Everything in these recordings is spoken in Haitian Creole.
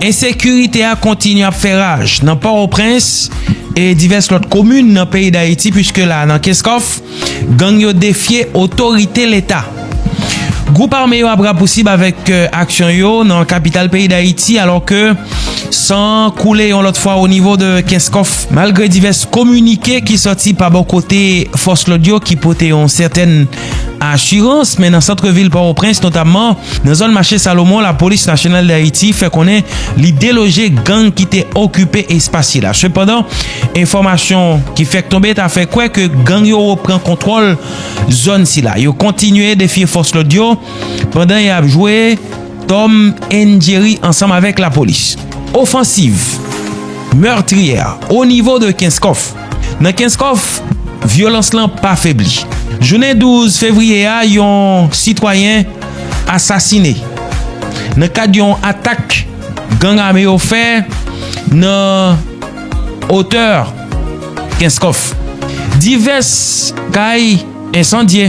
Ensekirite a kontinye ap fè raj nan Pòtoprens e divès lòt komin nan peyi Dayiti puiske la nan Kenscoff, gang yo defye otorite leta. Gwoup ame yo ap rapousib avèk aksyon yo nan kapital peyi Dayiti alò ke san koule yon lòt fwa o nivo de Kenscoff. Malgre divès kominike ki sòti pa bò kote fòs lòd yo ki pote yon sètèn. Asirans, men nan sant vil Pòtoprens notamman nan zòn mache Salomon lapolis nasyonal Dayiti fè konnen li deloje gang ki te okipe espas sila. Sepandan, enfòmasyon ki fèk tonbe ta fè kwè ke gang yo repran kontwòl zòn sila. Yo kontinye defye fòs lòd yo pandan y ap jwe Tom and Jerry ansanm avèk lapolis. Ofansiv meurtrière au niveau de Kenskòf. Nan Kenskòf, vyolans lan pa febli. Jounen 12 fevriye a, yon sitwayen asasine nan kad yon atak gang ame yo fè nan otè Kenskòf. Divès kay ensandye.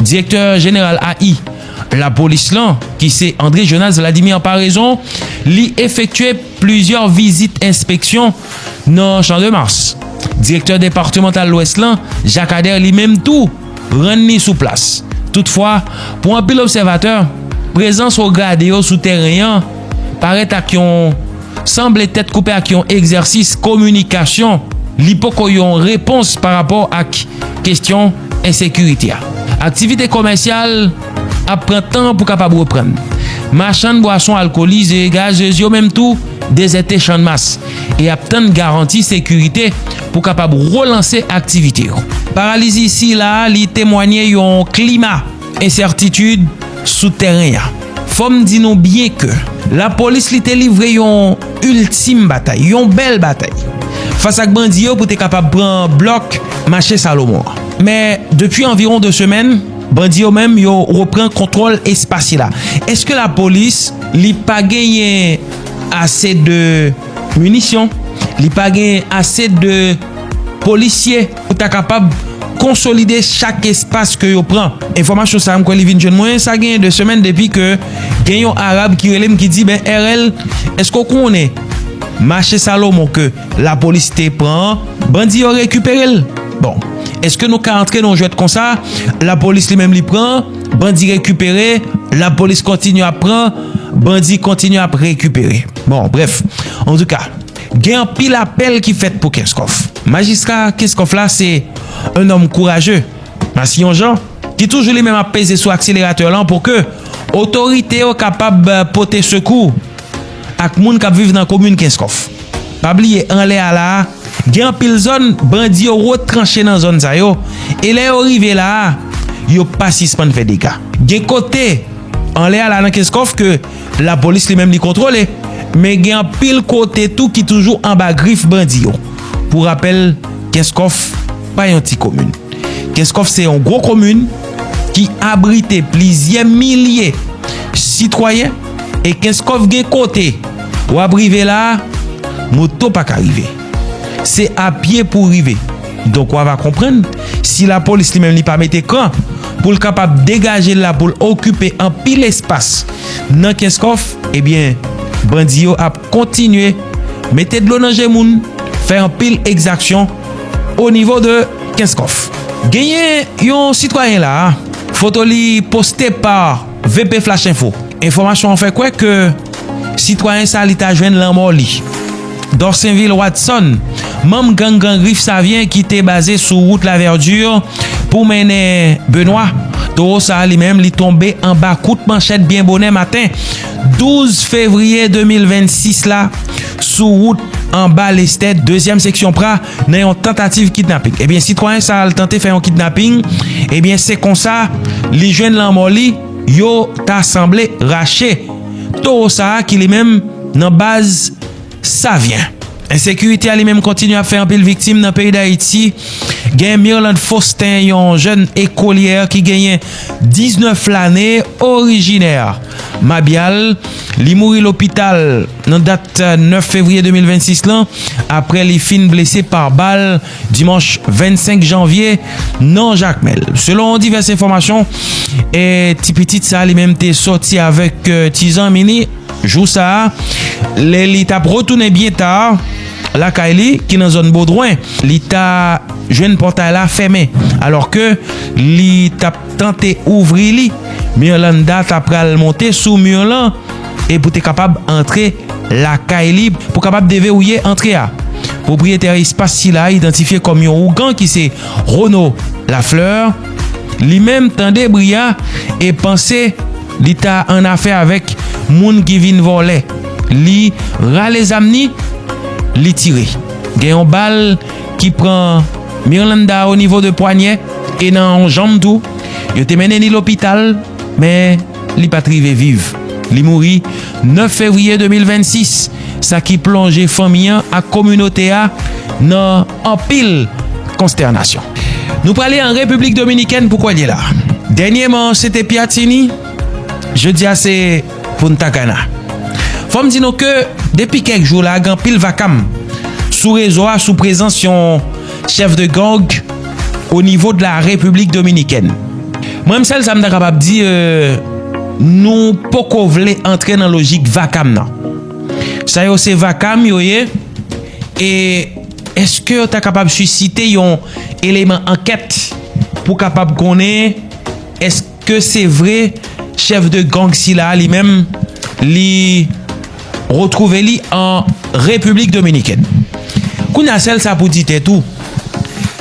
Direktè jeneral AI lapolis lan ki se André Jonas Vladimir Paraison li efektye plizyè vizit enspeksyon nan Champ-de-Mars. Direktè departemantal Lwès lan Jacques Ader li menm tou rann li sou plas. Toutfwa, pou anpil obsèvatè, prezans wo grade yo sou tèren an parèt ak yon. sanble tèt koupe ak yon egzèsis kominikasyon li poko yon repons pa rapò ak kestyon ensekirite a. Aktivite komèsyal ap pran tan pou kapab reprann. Machann bwason alkolize, gazez yo menm tou dezète Channmas e ap tann garanti sekirite pou kapab relanse aktivite yo. Paralizi sila li temwanye yon klima Ensètitid sou tèren an. Fò m di nou byen ke lapolis li te livre yon iltim batay, yon bèl batay fas ak bandi yo pou te kapab pran blòk mache Salomon an. Men, depi anviwon 2 semèn, bandi yo menm yo repran kontwòl espas sila. Eske lapolis li pa genyen ase de minisyon? Li pa genyen ase de polisye? pou ta kapab konsolide chak espas ke yo pran. Enfòmasyon sa a m kwè li vin jwenn mwen sa genyen 2 semèn depi ke gen yon Arab ki rele m ki di ben RL èske ou konnen mache Salomon ke lapolis te pran an bandi yo rekipere l? Bon èske nou ka antre nan yon jwèt konsa lapolis li menm li pran bandi rekipere lapolis kontinye ap pran bandi kontinye ap rekipere bon brèf antouka. Gen anpil apèl ki fèt pou Kenskòf. Majistra Kenskòf la se yon nonm kouraje, masiyon jan, ki toujou li menm ap peze sou akseleratè lan pou ke otorite yo kapab pote sekou ak moun k ap viv nan komin Kenskòf. Pa bliye anlè a la a, gen anpil zòn bandi yo retranche nan zòn sa yo e lè yo rive la a, yo pa sispann fè dega. Gen kote anlè a la nan Kenskòf ke. Lapolis li menm li kontwole, men gen anpil kote tou ki toujou anba grif bandi yo. Pou rapèl, Kenskòf pa yon ti komin. Kenskòf se yon gwo komin ki abrite plizyè milye sitwayen e Kenskòf gen kote wap rive la a, moto pa ka rive. Se a pye pou w rive. Donk w ava konprann, si lapolis li menm li pa mete kan, pou l kapab degaje l la pou l okipe anpil espas nan Kenskòf, ebyen, bandi yo ap kontinye mete dlo nan je moun, fè anpil ekzaksyon o nivo de Kenskòf. Genyen yon sitwayen la a, foto li poste pa. VP Flash Info, Enfòmasyon an fè kwè ke sitwayen sa li ta jwenn lanmò li. Dorsainville Watson, manm gang Gran Grif Savyen ki te baze sou wout La Verdure pou mennen Benoit, towo sa li menm li tonbe anba kout manchèt byen bonè maten 12 fevriye 2026 la sou wout anba Lestèd, dezyèm seksyon pra. nan yon tantativ kidnaping ebyen sitwayen sa al tante fè yon kidnaping ebyen se konsa li jwenn lanmò li yo ta sanble rache towo sa a ki li menm nan baz savyen ensekirite a li menm kontinye ap fè anpil viktim nan peyi dayiti gen mirlande faustin yon jèn ekolyè ki genyen 19 lane orijinè mabyal li mouri lopital. Nan dat 9 fevriye 2026 lan, aprè li fin blese pa bal dimanch 25 janvye nan Jakmèl. Selon divès enfòmasyon, ti pitit sa li menm te sòti avèk ti zanmi li jou sa a lè li t ap retounen byen ta lakay li ki nan zòn Bodwen. Li ta jwenn pòtay la fèmen alò ke li t ap tante ouvri li. Mirlanda ta pral monte sou mur lan. e pou te kapab antre lakay li pou kapab deverouye antre a. Pwopriyetè espas sila idantifye kòm yon ougan ki se Rono Lafleur, li menm tande bri a e panse li ta an afè avèk moun ki vin vòlè. Li rale zam ni, li tire. Gen yon bal ki pran Mirlanda o nivo de pwanyè e nan yon janm tou. Yo te mennen li lopital men. Li pa t rive viv. Li mouri 9 fevriye 2026, sa ki plonje fanmi an ak kominote a nan anpil konstènasyon. Nou prale an Repiblik Dominikèn pou kòlye la. Dènyeman se te Piatini, jodi a se Punta Cana. Fò m di nou ke depi kèk jou la gen anpil vakam sou rezo a sou prezans yon. chef de gang au niveau de la République Dominicaine. Mwen m sèl sa m ta kapab di nou poko vle antre nan lojik vakam nan. Sa yo se vakam yo ye e eske yo ta kapab sisite yon eleman ankèt pou kapab konnen eske ke se vre chèf de gang sila a li menm li retwouve li an Repiblik Dominikèn. Kounye a sèl sa pou di tèt ou,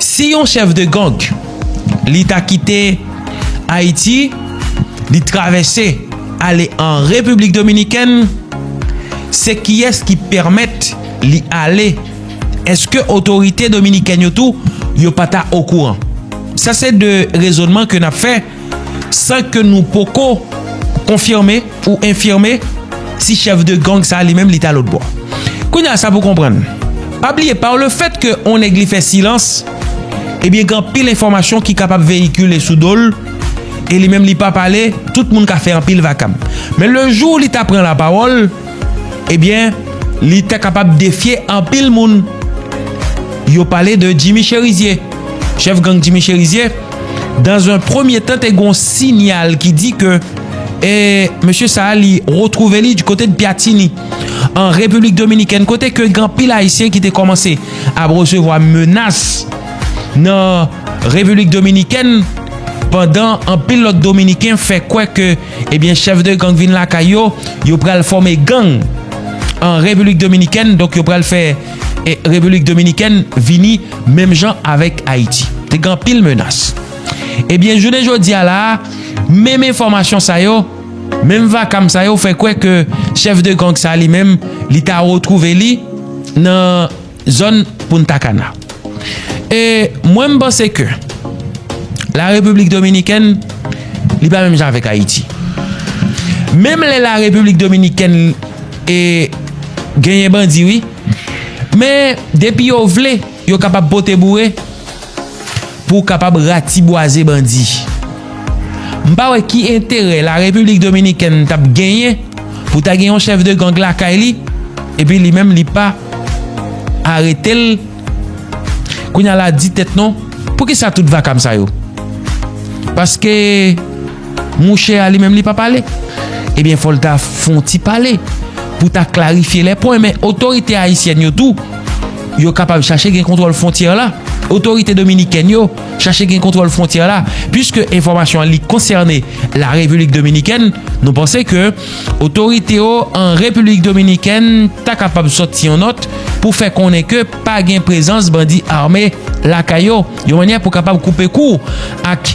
si yon chèf de gang li ta kite Ayiti, li travèse ale an Repiblik Dominikèn, se kiyès ki pèmèt li ale? Eske otorite dominikèn yo tou yo pa ta okouran? Sa se 2 rezonman ke nap fè san ke nou poko konfime ou enfime si chèf de gang sa li menm li ta lotbò. Kounye a sa pou konprann, pa bliye pa le fèt ke on nèg li fè silans ebyen gen anpil enfòmasyon ki kapab veyikile sou dol e li menm li pa pale tout moun ka fè anpil vakab. Men le jou li ta pran la pawòl. Ebyen li ta kapab defye anpil moun. Yo pale de Jimmy Cherizier. Chèf gang Jimmy Cherizier dan zon premye tan te gon sinyal ki di ke e mesye sa li retwouve li di kote de Pyatini an Repiblik Dominikèn kote ke gen anpil ayisyen ki te kòmanse ap resevwa menas nan Repiblik Dominikèn pandan anpil lòt dominiken fè kwè ke ebyen chèf de gang vin lakay yo, yo pral fòme gang an Repiblik Dominikèn, donk yo pral fè Repiblik Dominikèn vini menm jan avèk Ayiti. Te gen anpil menas. Ebyen jounen jodi a la a, menm enfòmasyon sa yo, menm vakam sa yo fè kwè ke chèf de gang sa li menm, li ta retwouve li nan. zòn Punta Cana. E mwen m panse ke la Repiblik Dominikèn li pa menm jan avèk Ayiti. Menm lè la Repiblik Dominikèn e genyen bandi wi men depi yo vle yo kapab pote boure. pou w kapab ratibwaze bandi. M pa wè ki enterè la Repiblik Dominikèn t ap genyen pou ta gen yon chèf de gang lakay li epi li menm li pa arete l kounye a la di tèt non poukisa tout vakam sa yo paske Mouche a li menm li pa pale. Ebyen fòl ta fon ti pale pou ta klarifye lè pwen men otorite ayisyèn yo tou yo kapab chache gen kontwòl fwontyè la otorite dominikèn yo chache gen kontwòl fwontyè la piske enfòmasyon an li konsène la repilik dominikèn nou panse ke otorite yo an repilik dominikèn ta kapab sòti yon nòt pou fè konnen ke pa gen prezans bandi ame lakay yo yon mannyè pou kapab koupe kou ak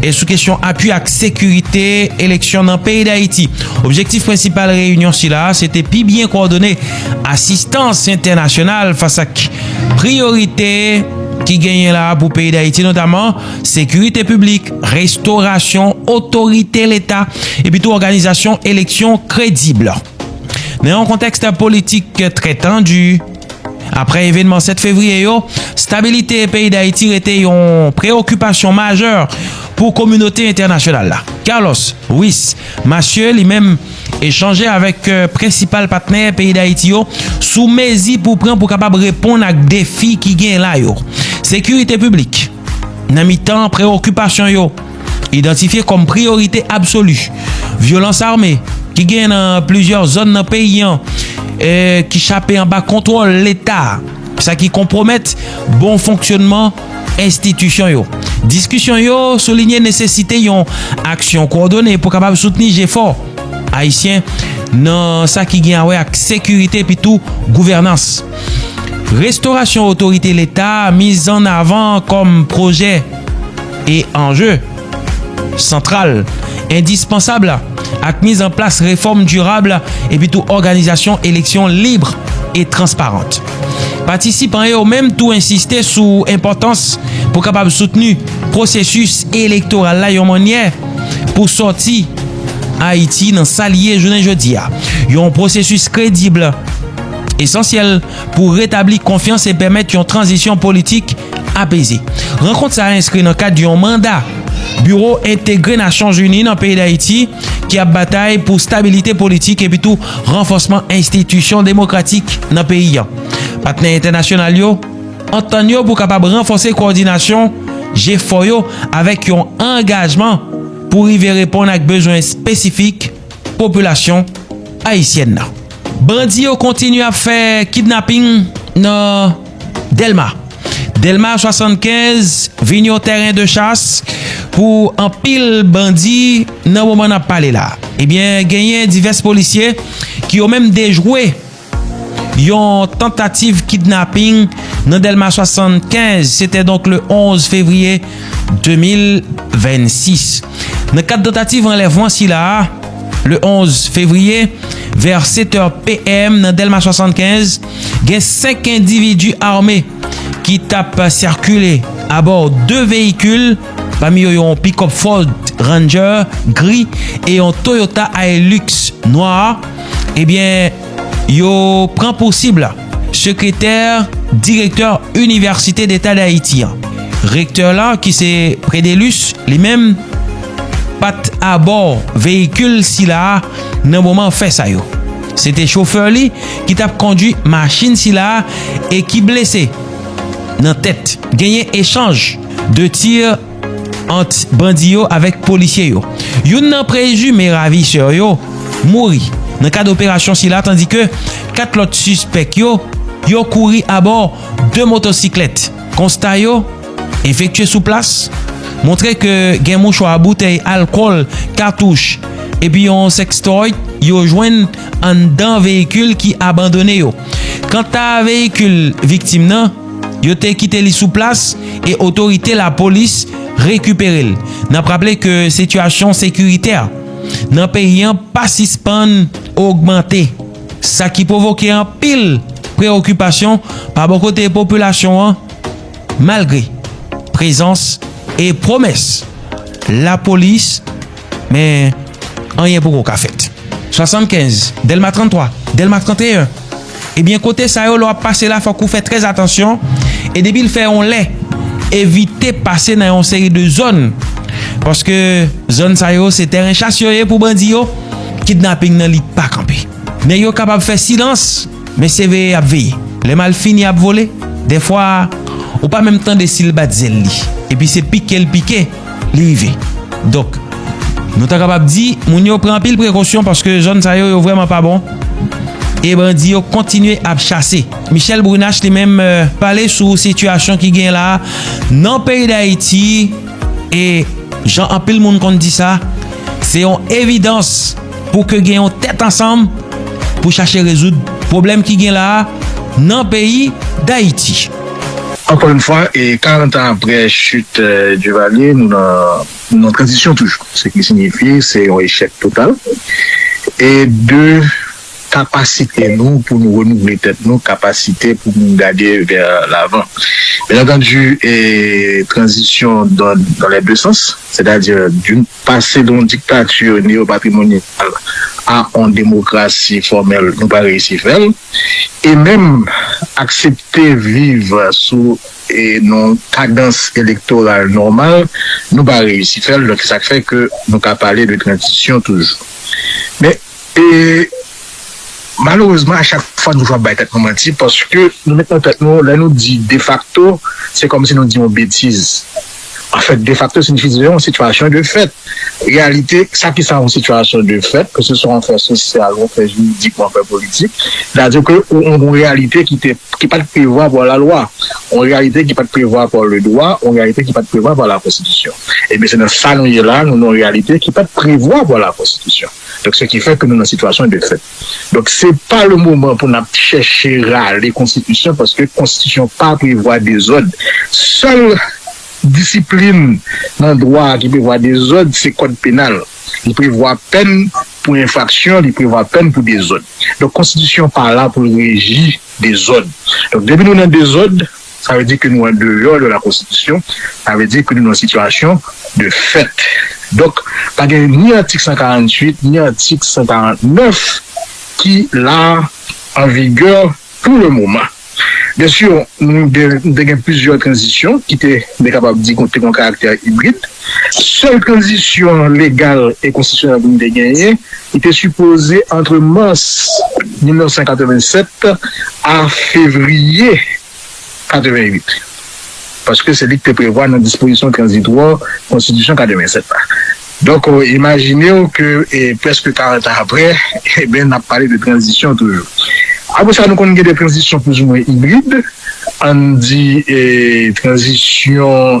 E sou kesyon apui ak sekirite eleksyon nan peyi Dayiti. Objektif prensipal reyinyon sila a se te pi byen kòdone asistans entènasyonal fas ak priyorite ki genyen la a pou peyi Dayiti notaman sekirite piblik, restorasyon, otorite leta epi tou òganizasyon eleksyon kredib. Nan yon kontèks politik trè tandi. Aprè evenman 7 fevriye yo, stabilite peyi Dayiti rete yon preokipasyon majè pou kominote entènasyonal la. Carlos Ruiz Massieu li menm echanje avèk prensipal patnè peyi Dayiti yo sou mezi pou pran pou kapab reponn ak defi ki genyen la yo. Sekirite piblik. Nan mitan prewokipasyon yo idantifye kòm priyorite absoli, vyolans ame ki genyen nan plizyè zòn nan peyi an e ki chape anba kontwòl leta, sa ki konpwomèt bon fonksyònman enstitisyon yo. Diskisyon yo soulinye nesesite yon aksyon kwòdone pou kapab soutni jefò Ayisyen nan sa ki gen awè ak sekirite epitou gouvènans. Restorasyon otorite leta mizannavan kòm pwojè e anje santral endispansab ak mizanplas refòm dirab epitou òganizasyon eleksyon lib e transparant. Patisipan yo menm tou ensiste sou enpòtans pou kapab soutni pwosesis elektoral la yon mannyè pou sòti Ayiti nan sa li ye jounen jodi a, yon pwosesis kredib. esansyèl pou retabli konfyans e pèmèt yon tranzisyon politik apeze. Rankont sa a enskri nan kad yon manda Biwo Entegre Nasyonzini nan peyi Dayiti ki ap batay pou stabilite politik epitou ranfòsman enstitisyon demokratik nan peyi an. Patnè entènasyonal yo antann yo pou kapab ranfòse kowòdinasyon jefò yo avèk yon angajman pou rive reponn ak bezwen espesifik popilasyon ayisyèn nan. Bandi yo kontinye ap fè kidnaping nan Delma. Delma 75 vin yon tèren de chas pou anpil bandi nan moman nap pale la. Ebyen eh genyen divès polisye ki yo menm dejwe yon tantativ kidnaping nan Delma 75 se te donk le 11 fevriye 2026. Nan kad tantativ anlèvman sila a, le 11 fevriye, vè 7 è PM nan Dèlma 75, gen 5 endividi ame ki t ap sikile abò 2 veyikil, pami yo yon pikòp Ford Ranger gri e yon Toyota Hilux nwa, ebyen yo pran pou sib. Sekretè direktè Inivèsite Deta Dayiti an, rektè la ki se Predelus li menm pa t abò veyikil sila a nan moman fè sa yo. Se te chofè li ki t ap kondwi machin sila a e ki blese nan tèt. Genyen echanj de tir. ant bandi yo avèk polisye yo. Youn nan prezime ravisè yo mouri nan kad operasyon sila tandi ke 4 lòt sispèk yo yo kouri abò 2 motosiklèt. Konsta yo efektye sou plas montre ke gen mouchwa, boutèy alkòl, katouch epi yon sextoy yo jwenn anndan veyikil ki abandone yo. Kanta veyikil viktim nan. Yo te kite li sou plas e otorite lapolis rekipere l. N ap raple ke sitiyasyon sekiritè nan peyi an pa sispann ogmante, sa ki pwovoke anpil preokipasyon pa bò kote popilasyon an malgre prezans e pwomès lapolis. Men, anyen poko ka fèt. 75, Dèlma 33, Dèlma 31, ebyen kote sa yo lè w ap pase la fòk ou fè trè atansyon e depi l fè yon lè evite pase nan yon seri de zòn paske zòn sa yo se tèren chas yo ye pou bandi yo, kidnaping nan li pa kanpe. Nèg yo kapab fè silans. Mesye veye yap veye. Lè mal fini ap vole. Dèfwa ou pa menm tande sil bat zèl li. Epi se pike l pike li rive. Donk nou ta kapab di moun yo pran anpil prekosyon paske zòn sa yo yo vrèman pa bon. E bandi yo kontinye ap chase. Michèle Brunache li menm pale sou sitiyasyon ki genyen la nan peyi Dayiti e jan anpil moun konn di sa se yon evidans. pou ke gen yon tèt ansanm pou chache rezoud pwoblèm ki gen la a nan peyi Dayiti. Ankò yon fwa, e 40 an aprè chit Duvalier, nou nan tranzisyon toujou. Se ki sinyifi, se yon echèk total e de kapasite nou pou nou renouvle tèt nou, kapasite pou nou gade vè lavan. Byenantandi, e tranzisyon dan lè de sans, sètadi doun. Pase de yon diktati neyopatrimonyal a yon demokrasi fòmèl nou pa reyisi fè l, e menm aksepte viv sou yon kadans elektoral nòmal nou pa reyisi fè l, donk se sa k fè ke nou ka pale de tranzisyon toujou. Men, malerezman a chak fwa nou toujou ap bay tèt nou manti paske nou met nan tèt nou lè nou di defakto se kòmsi nou di yon betiz. Anfèt, defakto sinifi se yon sitiyasyon de fèt. Reyalite, sa ki sa yon sitiyasyon de fèt, ke se swa yon fè sosyal, yon fè jiridik, yon fè politik, sètadi ke ou yon reyalite ki te, ki pa t prevwa pa la lwa, yon reyalite ki pa t prevwa pa le dwa, yon reyalite ki pa t prevwa pa la konstitisyon. Ebyen, se nan sa nou ye la, nou nan yon reyalite ki pa t prevwa pa la konstitisyon. Donk, se ki fè ke nou nan sitiyasyon de fèt. Donk se pa le moman pou nap chèche rale konstitisyon paske konstitisyon pa prevwa dezòd. Sèl disiplin nan dwa ki prevwa dezòd se kòd penal. Li prevwa pèn pou enfraksyon, li prevwa pèn pou dezòd. Donk konstitisyon pa la pou l reji dezòd. Donk depi nou nan dezòd. Sa vle di ke nou an deyò de la konstitisyon, sa vle di ke nou nan sitiyasyon de fèt. Donk, pa gen ni atik 148, ni atik 149 ki la an vigè pou le moman. Byensi, nou te gen plizyè tranzisyon ki te, nou te kapab di, te gen yon karaktè ibrid. Sèl tranzisyon legal e konstitisyonèl pou nou te genyen li te sipoze antre mas 1987 a fevriye 88, paske se li ki te prevwa nan dispozisyon tranzitwa konstitisyon 87 la. Donk, imajine w ke prèske 40 an aprè, enben, n ap pale de tranzisyon toujou. Apre sa, nou konn gen de tranzisyon plouzimwen ibrid, ann di tranzisyon.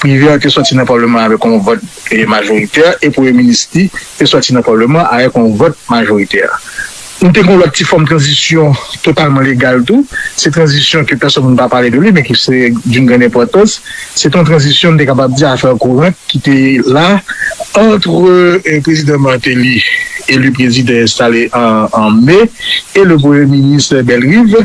Prive an te sòti nan palman an avèk yon vòt majoritè e premye minis li te sòti nan palman an avèk yon vòt majoritè. Nou te gen yon lòt ti fòm tranzisyon totalman legal tou, se tranzisyon ke pèsòn moun pa pale de li men ki se doun grann enpòtans, se te yon tranzisyon m te kapab di afè kourant ki te la antre prezidan Martelly, eli prezidan enstale an me, e le premye minis Bellerive.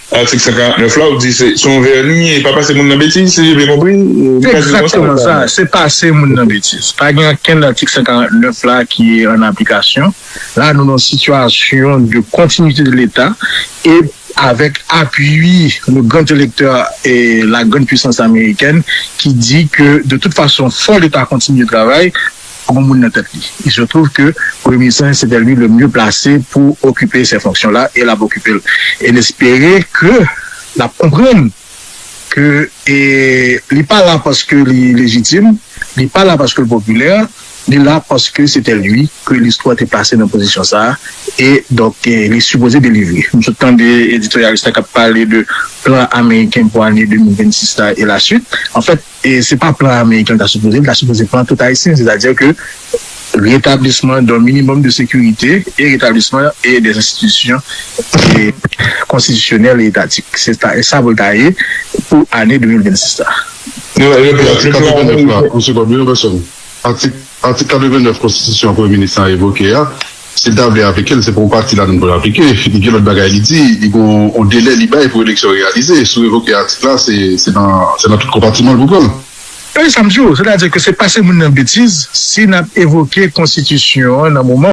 Atik 149 la ou di se yon vèni e pa pase moun nan betiz si je byen konpri li ka di l konsa ou pa. Se pase moun nan betiz. Pa gen ankenn nan atik 149 la ki an aplikasyon. La nou nan yon sitiyasyon de kontinite de leta e avèk apui le grand electeur e la grande puissance américaine ki di ke de tout fason fò leta kontinye travay. pou yon moun nan tèt li. Il se trouve que Premye Minis lan sete li le mieux placé pou okipe se fonksyon la e l ap okipe l. E n espere ke l ap konprann ke li pa la paske li lejitim, li pa la paske l popilè, li la paske sete li ke listwa te plase nan pozisyon sa a e donk li sipoze delivre. M sot tande editoryalis la k ap pale de plan ameriken pou ane 2026 la e la suite. Anfèt. E se pa plan ameriken l ta sipoze, li ta sipoze plan tout ayisyen, sètadi ke retablisman don minimòm de sekirite e retablisman e dè enstitisyon konstitisyonèl e etatik. Se ta e sa pou l ta ye pou ane 2026 la. Atik 89 la, Msye Bob, yon vèsyon atik 89 konstitisyon Premye Minis la evoke a. Si l ta vle aplike l, se pa yon pati ladan l pou l aplike. Li gen lòt bagay li di. Li gen yon delè li bay pou eleksyon reyalize. Si w revoke atik la, se nan tout konpatiman l pou pran l. Tande sa m di w, sètadi ke se pase moun nan betiz si n ap evoke konstitisyon an nan moman.